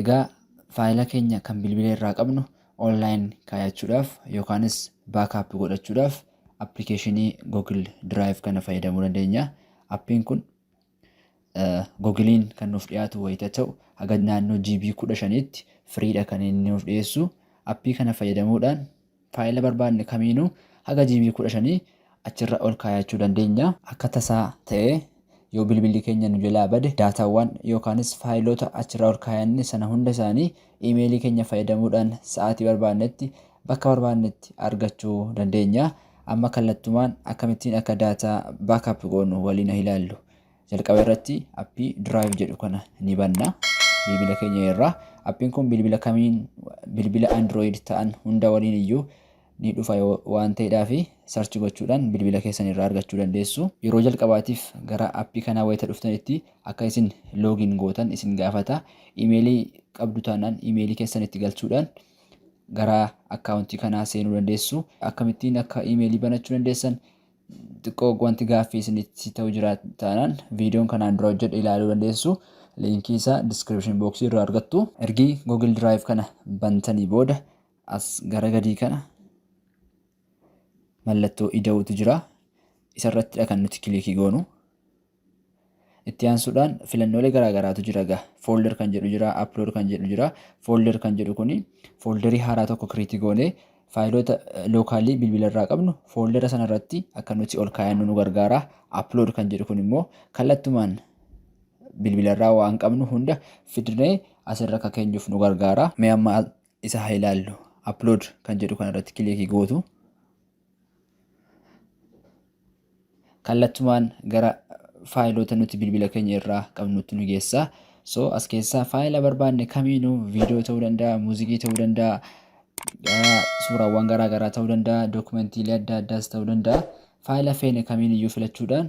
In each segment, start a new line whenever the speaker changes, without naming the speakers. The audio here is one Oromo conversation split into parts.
Egaa faayila keenya kan bilbila irraa qabnu online kaayachuudhaaf yookaanis backup godhachuudhaaf application Google Drive kana fayyadamuu dandeenya. Appiin kun Google'n kan nuuf dhiyaatu wayita ta'u haga naannoo GB 15tti firiidha kan inni nuuf dhiyeessu. Appii kana fayyadamuudhaan Faayila barbaadne kamiinuu haga GB 15 achirra ol kaayachuu dandeenya. Akka tasaa ta'ee yoo bilbilli keenya nu jalaa bade daataawwan yookaanis faayiloota achirra ol kaayanne sana hunda isaanii iimeelii keenya fayyadamuudhaan sa'aatii barbaadnetti bakka barbaadnetti argachuu dandeenya. Amma kallattumaan akkamittiin akka daataa backup goonu waliin ha ilaallu. Jalqaba irratti appii Drive jedhu kana ni banna. Bilbila keenya irraa. Appiin kun bilbila kamiin bilbila Android ta'an hunda waliin iyyuu ni dhufa waan ta'eedhaaf sarchi gochuudhaan bilbila keessan irraa argachuu dandeessu. Yeroo jalqabaatiif gara appii kanaa wayita dhuftanitti akka isin loogiin gootan isin gaafata. Imeelii qabdu taanaan imeelii keessan itti galchuudhaan gara akkaawuntii kanaa seenuu dandeessu. Akkamittiin akka imeelii banachuu dandeessan Xiqqoo wanti gaaffii isinitti ta'u jira taanaan viidiyoon kanaan dura hojjedhe ilaaluu dandeessu. Liinkii isaa description box irraa argattu. Ergii Google Drive kana bantanii booda as gara gadii kana mallattoo ida'uutu jira. Isarrattidha kan nuti kilikii goonu. Itti aansuudhaan filannoolee garaa garaatu jira egaa. Folder kan jedhu jira, upload kan jedhu jira. Folder kan jedhu kuni folderii haaraa tokko create goonee faayiloota lookaalii bilbila irraa qabnu foldera sana irratti akka nuti ol kaayannu nu gargaara. Upload kan jedhu kun immoo kallattumaan bilbila irraa waan qabnu hunda fidnee asirra akka keenyuuf nu gargaara. Mee amma isa haa ilaallu. Upload kan jedhu kana irratti kiliikii gootu. kallattumaan gara faayiloota nuti bilbila keenya irraa qabnutti nu geessa. So as keessaa faayila barbaanne kamiinuu viidiyoo ta'uu danda'a, muuziqii ta'uu danda'a, ah, suuraawwan garaa garaa ta'uu danda'a, dookumentiilee adda addaas ta'uu danda'a. Faayila feene kamiin iyyuu filachuudhaan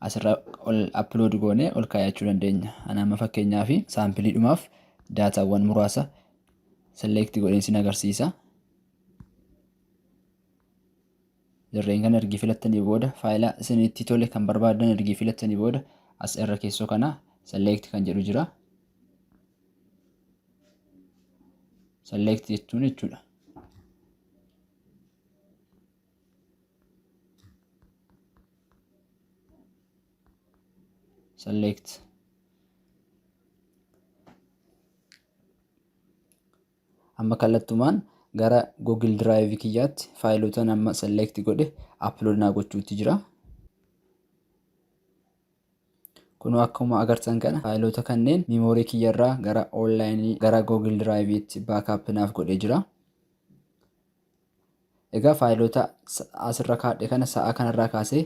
asirra ol upload goone ol kaayachuu dandeenya. Ana amma fakkeenyaa fi saampiliidhumaaf daataawwan muraasa select godheen sin agarsiisa. Dirreen kana ergi filattanii booda faayila isinitti tole kan barbaadan ergi filattanii booda as irra keessoo kana select kan jedhu jira. Select jechuun jechuudha. Select. Amma kallattumaan gara Google Drive kiyyaatti faayilotan amma select godhe upload naa gochuutti jira. Kunoo akkuma agartan kana faayilota kanneen memory kiyyarraa gara online gara Google Drive itti backup naaf godhee jira. Egaa faayiloota as irra kaadhe kana sa'aa kana irraa kaasee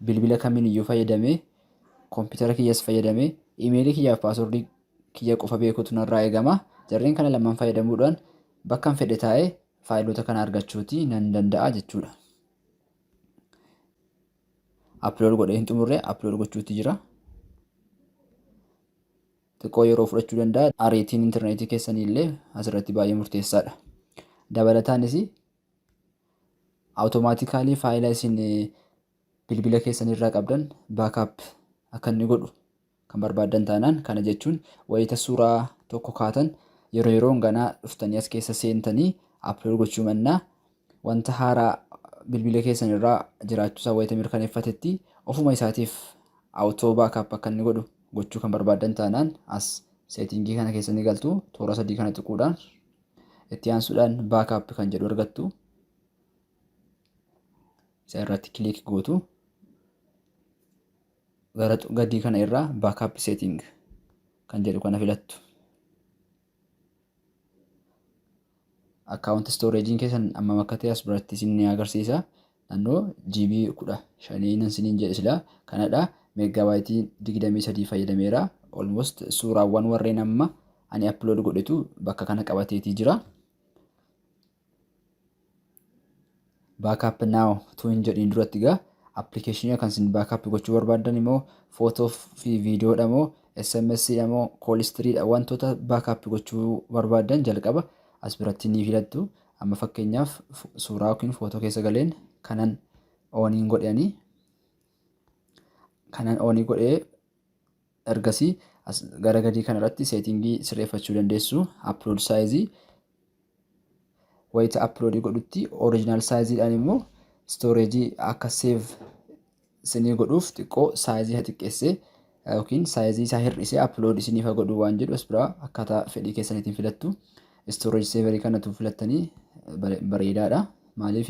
bilbila kamiin iyyuu fayyadamee kompiitara kiyyas fayyadamee imeelii kiyyaaf paaswordii kiyya qofa beekuutu narraa eegama. Jarreen kana lamaan fayyadamuudhaan bakkan fedhe taa'ee faayiloota kana argachuuti nan danda'a jechuudha. Upload godhee hin xumurre upload gochuutti jira. xiqqoo yeroo fudhachuu danda'a. Ariitiin interneetii keessanii illee asirratti baay'ee murteessaadha. Dabalataanis awutomaatikaalii faayila isin bilbila keessanirraa qabdan baakaap akka inni godhu kan barbaaddan taanaan kana jechuun wayita suuraa tokko kaatan yeroo yeroon ganaa dhuftanii as keessa seentanii aplood gochuu mannaa Wanta haaraa bilbila keessan irra jiraachuu isaa wayita mirkaneeffatetti ofuma isaatiif Auto Backup akka inni godhu gochuu kan barbaaddan taanaan as Seetingii kana keessa ni galtu. Toora sadii kana tuquudhaan itti aansuudhaan Backup kan jedhu argattu. Isa irratti kiliik gootu. Gara gadii kana irraa Backup Setting kan jedhu kana filattu. Account storage keessan ammam akka ta'e as biratti isin ni agarsiisa. Naannoo GB 15 nan isiniin jedhe silaa kanadha. Meeggaabaaytii 23 fayyadameera. Almost suuraawwan warreen amma ani upload godhetu bakka kana qabateetii jira. baakaap naaw utuu hin jedhiin duratti egaa appilikeeshinii kan isin baakaap gochuu barbaaddan immoo footoo fi viidiyoodha moo sms dha moo koolistiriidha wantoota baakaap gochuu barbaaddan jalqaba as biratti ni filattu amma fakkeenyaaf suuraa yookiin footoo keessa galeen kanan ooniin godhanii kanan oonii godhee Ergasii as gara gadii kana irratti seetingii sirreeffachuu dandeessu. Upload size wayita upload godhutti original size dhaan immoo storage akka save isinii godhuuf xiqqoo size ha xiqqeessee yookiin size isaa hir'isee upload isiniif ha godhu waan jedhu as biraa akkaataa fedhii keessaniitiin filattu. Storage saver kanatu filattanii bareedaadha. Maaliif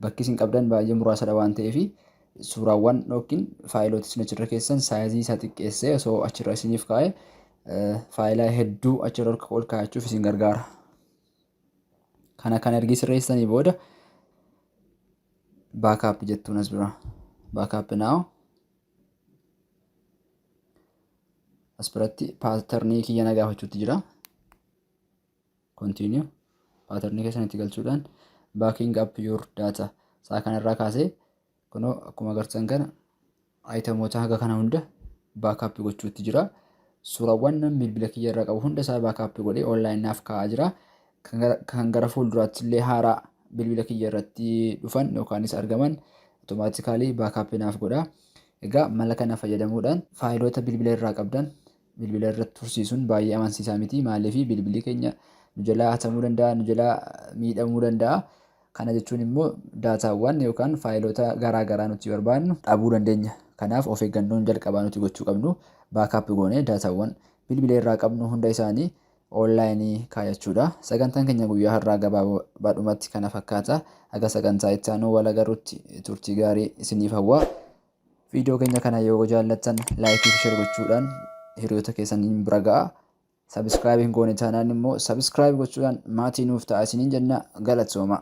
bakki isin qabdan baay'ee muraasadha waan ta'eef suuraawwan yookiin faayiloota isin achirra keessan saayizii isaa xiqqeessee osoo achirra isiniif kaa'e faayilaa hedduu achirra ol kaa'achuuf isin gargaara. Kana kan ergi sirreessanii booda baakaap jettuun as bira. Baakaap naaw. As biratti paatarnii kiyya na gaafachuutti jira. Continue. Pattern keessan itti galchuudhaan backing up your data. Isaa kanarraa kaasee kunoo akkuma agartan kana ayitamoota haga kana hunda baakaappi gochuutti jira. Suuraawwan namni bilbila kiyya irraa qabu hunda isaa baakaappi godhee online naaf kaa'aa jira. Kan gara- Kan gara fuulduraatti illee haaraa bilbila kiyya irratti dhufan yookaanis argaman automaatikaalii baakaappi naaf godha. Egaa mala kana fayyadamuudhaan faayiloota bilbila irraa qabdan bilbila irratti tursiisuun baay'ee amansiisaa miti. Maaliif bilbilli keenya nu jalaa hatamuu danda'a, nu jalaa miidhamuu danda'a. Kana jechuun immoo daataawwan yookaan faayiloota garaa garaa nuti barbaadnu dhabuu dandeenya. Kanaaf of eeggannoon jalqabaa nuti gochuu qabnu baakaap goonee daataawwan bilbila irraa qabnu hunda isaanii oonlaayinii kaayachuudha. Sagantaan keenya guyyaa har'aa gabaabaadhumatti kana fakkaata. Haga sagantaa itti aanu wal agarrutti turtii gaarii isiniif hawwa. Viidiyoo keenya kana yoo jaallattan laayikii fi share gochuudhaan hiriyoota keessaniin bira ga'a. Sabiskiraayib hin goone taanaan immoo sabiskiraayib gochuudhaan maatii nuuf ta'a isiniin jenna galatoomaa.